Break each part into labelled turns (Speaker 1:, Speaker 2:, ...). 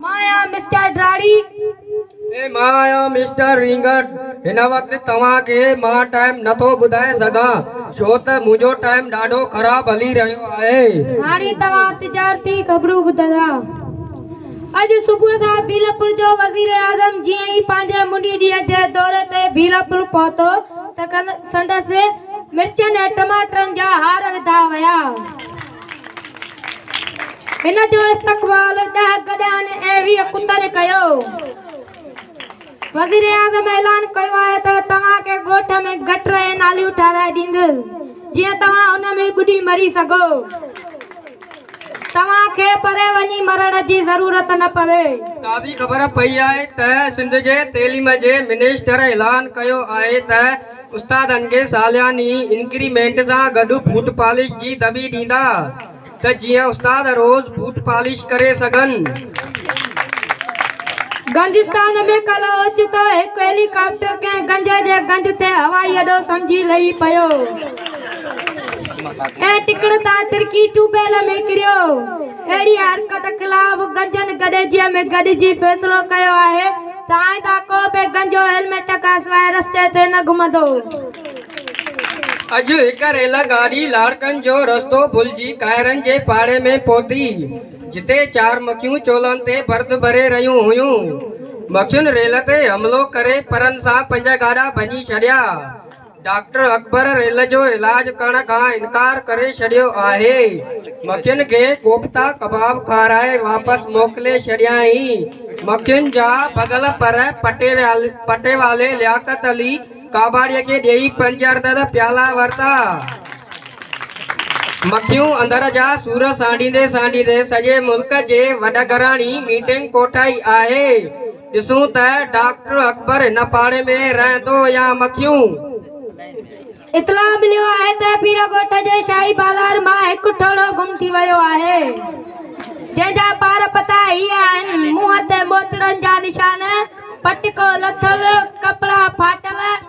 Speaker 1: مان آهيان مسٽر ڊراڙي. ۽ مان آهيان مسٽر رينگڻ. هن وقت توهان کي مان ٽائيم نه ٿو ٻڌائي سگهان ڇو ته منهنجو ٽائيم ڏاڍو خراب هلي رهيو آهي. هاڻي توهان
Speaker 2: تجارتي خبرون ٻڌندا. اڄ صبح کان ڀيلپور جو وزيراعظم جيئن ئي پنهنجي منڊي ڏينهن جي دوري تي ڀيلپور پهتو ته سندس مرچن ۽ ٽماٽرن جا هار وڌا ويا. ان جو استقبال ڏهه گڏهن ۽ ويهه ڪتن ڪيو. وزيراعظم اعلان ڪيو آهي ته توهان کي ڳوٺ ۾ گٽر ۽ ناليون ٺهرائي ڏيندس جيئن توهان ان ۾ ٻڏي مري سگهو. توهان کي پري وڃي مرڻ جي ضرورت نه پوي. تازي خبر
Speaker 1: پئي آهي ته سنڌ جي تعليم جي منسٽر اعلان ڪيو آهي ته استادن کي سالياني انڪريمينٽ سان گڏ بوٽ پالش جي دٻي ڏيندا ته جيئن استاد روز بوٽ پالش ڪري سگهن.
Speaker 2: گنجستان ۾ ڪلهه اوچتو هڪ هيلي ڪاپٽر ڪنهن گنج جي گنج تي هوائي اڏو سمجهي لهي پيو ۽ ٽڪڙ تان ترڪي ٽيوبويل ۾ ڪريو. اهڙي حرڪت خلاف گنجن گڏجيء ۾ گڏجي فيصلو ڪيو آهي تائين ته ڪو به گنجو هيلميٽ کانسواء رستي تي نه گهمندو هو. اڄ
Speaker 1: هڪ ريل گاڏي لاڙڪن جو رستو ڀلجي ڪائرن جي پاڙي ۾ پهتي، جتي چار مکيون چولهن تي برد ڀري رهيون هيون. مکين ريل تي حملو ڪري پرن سان پنج گاڏا ڀڃي ڇڏيا. ڊاڪٽر اڪبر ريل جو علاج ڪرڻ کان انڪار ڪري ڇڏيو آهي. مکين کي ڪوفتا ڪباب کارائي واپس موڪلي ڇڏيائين. مکين جا ڀڳل پر پٽيوالي لياقت علي ڪاٻاڙي کي ڏيئي پنج عدد پيالا ورتا. مکيون اندر جا سور سانڍيندي سانڍيندي سڄي ملڪ جي وڏگهراڻي ميٽنگ ڪوٺائي آهي. ڏسون ته ڊاڪٽر اڪبر هن پاڙي ۾ رهندو يا مکيون.
Speaker 2: اطلاع مليو آهي ته پير ڳوٺ جي شاهي بازار مان هڪ ٺوڙهو گم ٿي ويو آهي، جنهن جا پار پتا هي آهن، منهن تي ٻوچڙن جا نشان، پٽڪو لٿل، ڪپڙا ڦاٽل،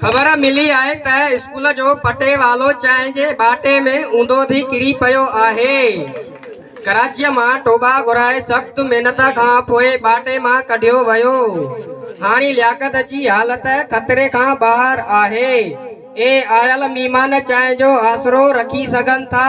Speaker 2: خبر
Speaker 1: ملي آهي ته اسڪول جو پٽيوالو چانهه جي ٻاٽي ۾ اونڌو ٿي ڪري پيو آهي. ڪراچيء مان ٽوٻا گهرائي سخت محنت کان پوء ٻاٽي مان ڪڍيو ويو. هاڻي لياقت جي حالت خطري کان ٻاهر آهي ۽ آيل مهمان چانهه جو آسرو رکي سگهن ٿا.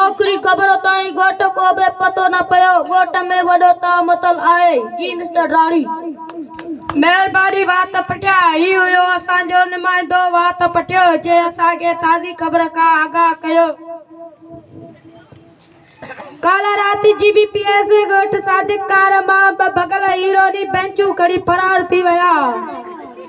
Speaker 3: آخري خبر تائين ڳوٺ ڪو به پتو نه پيو. ڳوٺ ۾ وڏو تاء متل آهي. جي مسٽر ڊاڙي.
Speaker 2: مهرباني وات پٽيا. هي هيو اسان جو نمائندو وات پٽيو جنهن اسان کي تازي خبر کان آگاهه ڪيو. ڪالهه رات جي بي پي ايس اي ڳوٺ صادق ڪار مان ٻه ڀڳل هيروئني بينچون کڻي فرار ٿي ويا.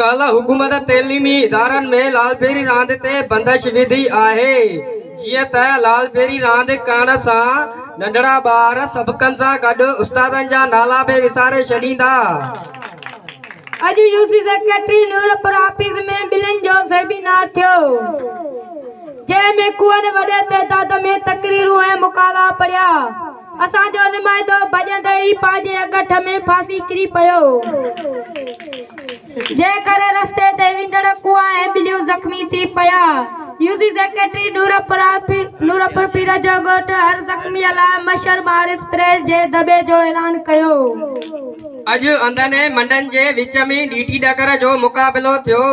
Speaker 1: ڪالهه حڪومت تعليمي ادارن ۾ لالپيري راند تي بندش وڌي آهي جيئن ته لالپيري راند ڪرڻ سان ننڍڙا ٻار سبقن سان گڏ استادن جا نالا به وساري ڇڏيندا. اڄ
Speaker 2: U C secretary Noorpur office ۾ ٻلين جو سيمينار ٿيو جنهن ۾ ڪوئن وڏي تعداد ۾ تقريرون ۽ مقالا پڙهيا. اسان جو نمائندو ڀڄندي ئي پنهنجي اڳٺ ۾ ڦاسي ڪري پيو، جنهن ڪري رستي تي ويندڙ ڪوئا ۽ ٻليون زخمي ٿي پيا. يو سي سيڪريٽري نورپور پير جو ڳوٺ هر زخمي لاء مشهر مار اسپري جي دٻي جو اعلان ڪيو. اڄ
Speaker 1: انڌن ۽ منڊن جي وچ ۾ ڏيٽي ڏڪر جو مقابلو ٿيو،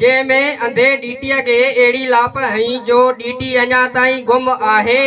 Speaker 1: جنهن ۾ انڌي ڏيٽي کي اهڙي لاپ هنئي جو ڏيٽي اڃا تائين گم آهي.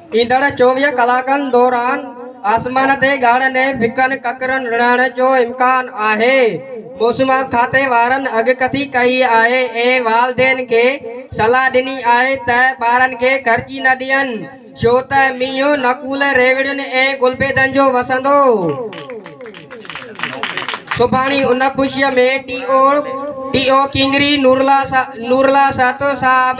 Speaker 1: ايندڙ چوويهه ڪلاڪن دوران آسمان تي ڳاڙهن ۽ ڦڪن ڪڪرن رڙهڻ جو امڪان آهي. موسم کاتي وارن اڳڪٿي ڪئي آهي ۽ والدين کي صلاح ڏني آهي ته ٻارن کي گرجي نه ڏين ڇو ته مينهن نڪول ريوڙين ۽ گلبيدن جو وسندو. سڀاڻي ان خوشي ۾ ٽي او ٽي او ڪينگري نورالله سهتو صاحب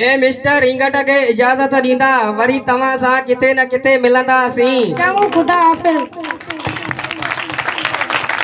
Speaker 2: اي
Speaker 1: مسٽر رينگٽ کي اجازت ڏيندا وري توهان
Speaker 2: سان
Speaker 1: ڪٿي نه ڪٿي ملنداسين. چڱو خدا حافظ.